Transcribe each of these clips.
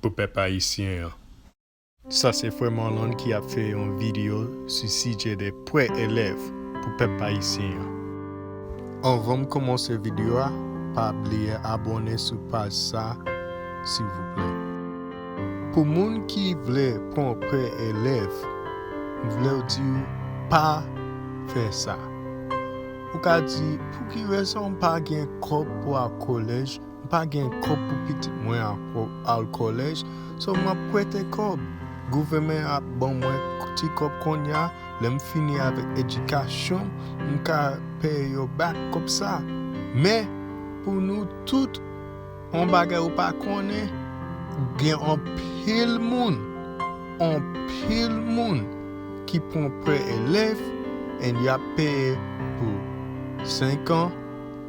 pou pèp ayisyen an. Sa se frè Marlon ki ap fè yon video sou sijè de prè elèv pou pèp ayisyen an. Anvan m komanse video a pa bliye abòne sou paj sa silvouplè. Pou moun ki vle pran prè elèv m vlew diw pa fè sa. Ou ka di pouki rezon m pa gen kòb pou al kolèj M pa gen kòb pou pitit mwen ankò al kòlèj so m ap prete kòb. Gouvèmen ap ban mwen ti kòb konnya lè m fini avèk edikasyon m m ka peye yo bak kòb sa. Men pou nou tout on bagay ou pa konnen gen anpil moun anpil moun ki pran prè elèv and y ap peye pou 5 an,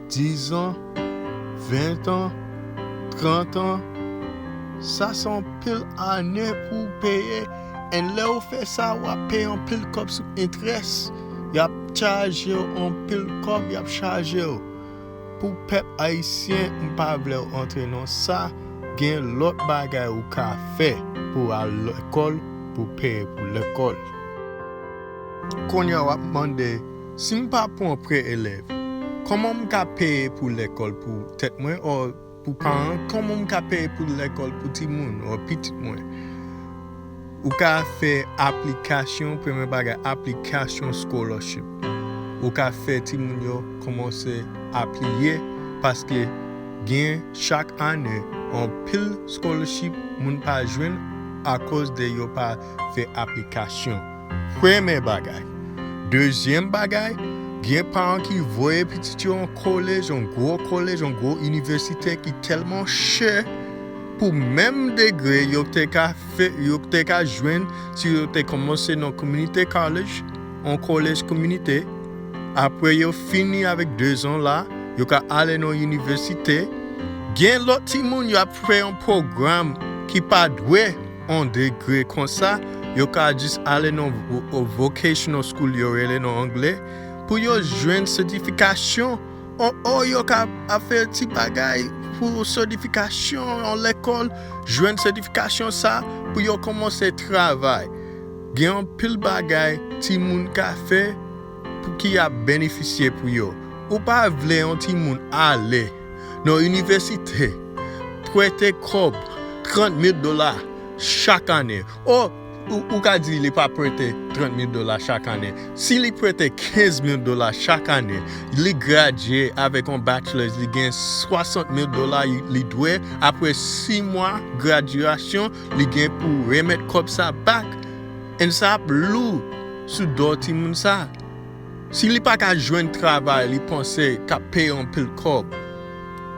10 ans, 20 ans, 30 ans, sa se anpil ane pou w peye and lè ou fè sa w ap peye anpil kòb sou entrès, y ap chaje w anpil kòb y ap chaje w pou pèp ayisyen m pa vle w antre nan sa, gen lòt bagay ou ka fè pou w al lekòl pou w peye pou lekòl. Kounye a w ap mande. Si m pa pwan prè elèv, kòman m ka peye pou lèkòl pou tèt mwen or pou paran kòman m ka peye pou lèkòl pou timoun or pitit mwen? Ou ka fè aplikasyon, premye bagay aplikasyon scholarship. Ou ka fè timoun yo kòmanse apliye paske gen chak ane anpil scholarship moun pa jwenn akoz de yo pa fè aplikasyon. Premè bagay. Dezyèm bagay, gen paran ki voye pitit yo yon kolej, yon gwo kolej, yon gwo inivèsite ki tèlman chè pou menm degre yo te ka fè, yo te ka jwenn si yo te kòmanse nan community college, yon kolej kominite, apre yo fini avèk dezan la, yo ka ale nan inivèsite. Gen lòt timoun y ap fè yon pwogram ki pa dwe. on degre konsa yo ka jis ale nan vocational school yo rele nan angle pou yo jwenn sètifikasyon o yo ka ap fè ti bagay pou sètifikasyon nan lekòl jwenn sètifikasyon sa pou yo kòmanse travay gen anpil bagay timoun ka fè ki ap benefisye pou yo ou pa vle yon timoun ale. nan inivèsite prete kòb 30 mil dola chak ane. O, ou ka di li pa prete 30 mil dola chak ane. Si li prete 15 mil dola chak ane, li gradye avèk yon bachelors, li gen 60 mil dola li dwe, apre 6 mwa gradyasyon, li gen pou remèt kòb sa back and sa ap lou sou do timoun sa. Si li paka jwenn travay li panse k ap peye anpil kòb,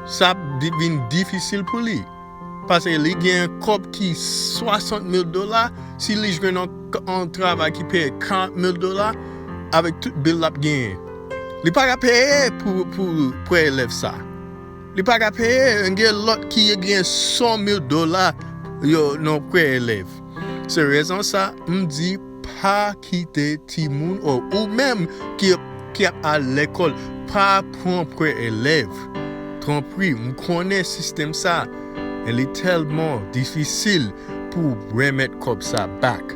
sa ap vin difisil pou li. Pase li gen kòb ki 60 mil dola, si li jwenn yon travay ki peye 40 mil dola, avèk tout bil l ap genyen, li paka peye pou prè elèv sa. Li paka peye, gen lòt ki genyen 100 mil dola yo nan prè elèv. Se rezon sa m di. Pa kite timoun o ou menm ki ap al lekòl pa pran prè elèv tanpri m konnen sistèm sa a li tèlman difisil pou w remèt kòb sa back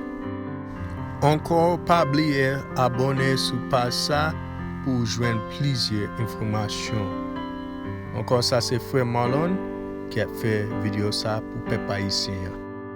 ankò pa bliye abòne sou paj sa pou w jwenn plizyè enfòmasyon ankò sa se frè Marlon ki ap fè video sa pou pèp ayisyen an.